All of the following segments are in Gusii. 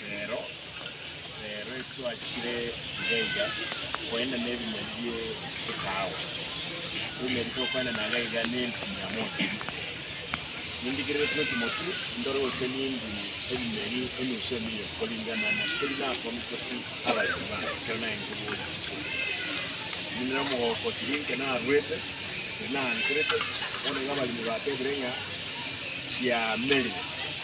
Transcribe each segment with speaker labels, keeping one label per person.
Speaker 1: Reero, reero etwachire iga iga koenda nebinyoni bie ekaawa, toumeti tokoenda naga iga nenthu mia mono ime. Nindigerere twe chimotu ndore gose nindu ebimeri enusu emilion koringana na keri nakomiseti abaremi bane ekero naengire bwonsi chikumi. Ninere omogoko tiri inke narwete, tiri naanserete, bono igo abaremi batebire ng'a chiamerire.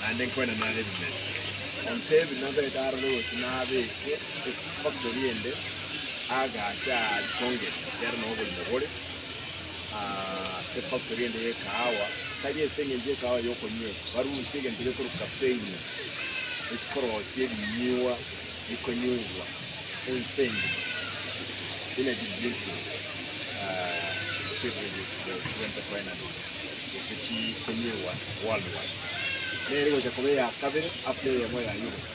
Speaker 1: naende nkoena nare ebimeri. Ontebi nabete aroro gose nabeke efactory ende agache aachongere ekiagera nao oborimo bore ah, efactory ende y'ekahawa tari ase eng'encho y'ekahawa y'okonywewa, barusie egento gekorwa kafeini ekikorosia ebinywewa bikonywewa ense engima energy drinking ah, beverages that went to finance. gose chikumi egwana, World War, nere gocha koba eya kabere after eyemo ya Europe.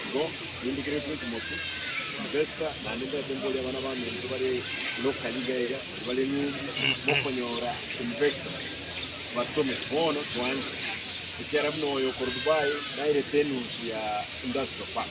Speaker 1: Igo nindigeretwe Timothy, Vesta, naende ndete mborie abana baminto bare locally iga iga baria bare ng'umbu mokonyora investors batome. Bono twanse, ekiara buna oyo okoro Dubai nairete enusu ya industrial park.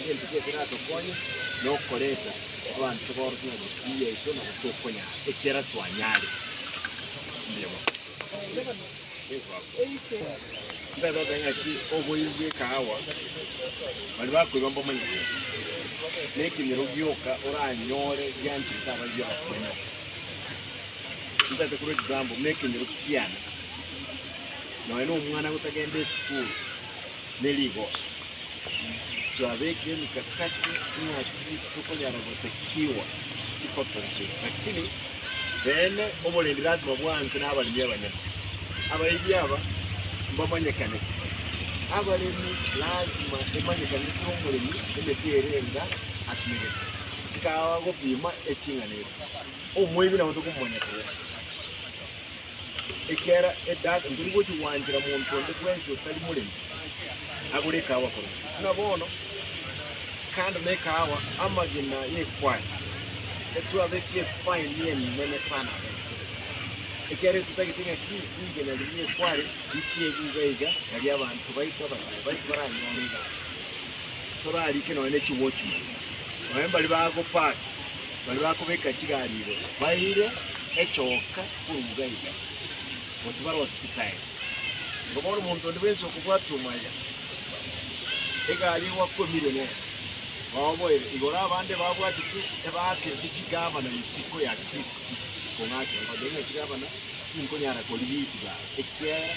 Speaker 1: Egento ki ekeratokonye nokoreta abanto tobaorokia ng'a misiri yaito nabo tokonyara ekiagera twanyare emeremo Ntabe oteba ng'a ki oboiri bw'ekahawa baria bakoiba mbomanye gose nekenyoro gioka oranyore gianchire ase abaibia bakonye Ntabe korwa example buna ekenyoro kiane nonya nomwana gotagenda esukuru nerigoso Twabeke emikakati ng'aki tokonyara gosekiwa tikotogia, lakini beene oborendi lasima bwanse nabaremi abanyene. Abaibwi aba mbamanyekanete. Abaremi lasima emanyekanete omoremi emete ere enga asumegete chikawa gopima eching'ana eria. Omoibwi nabo tokomomanya koyera. ekiagera edaaka tori gochia gwanchera monto onde bwensi otari moremi agore ekahawa korwa ase. Buna bono, kando na ekahawa, amagena y'ekware etwabetie efaini enene sana aba ime, ekiagera totagete ng'a ki rigena riria ri'ekware risiegwe iga iga na ri'abanto baito abasae baito baranyore egasi, torarike nonya ne chiwochimani, nonya mbari bagopaake. Baria bakobeka chigari igo baeire echoka korwa iga iga, gose bare hosipitali. Igo bono omonto onde bwensi okobwata omwaya, egari egwakwemire nere, baoboire igoro abande babwati tu ebaakereti chigabana isiko ya Kirisiti, kong'akerwa, babeire ne chigabana tinkonyara korigia isiko aa, ekiagera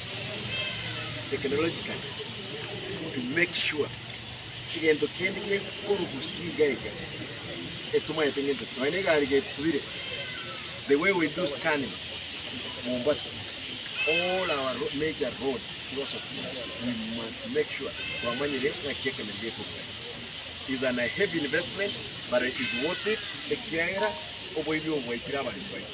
Speaker 1: technologically to make sure egento kende gekorugusia iga iga etomanyete ng'encho ki. Nonya na egari getubire, the way we do scanning Mombasa, all our ro- major roads tigosa kurugusia. We must make sure twamanyire ng'aki ekenyoro gekorwa ime. Is an a heavy investment but it is worth it ekiagera oboibi obo bwaikire abanto baito.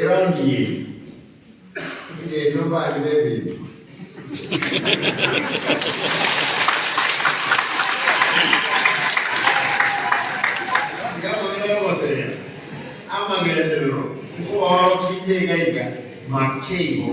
Speaker 2: Erangi eye nigo eria obani b'ebinto. Tiga amang'ana y'ogoseria amagenderero, nkobaorokia inye iga iga, make igo.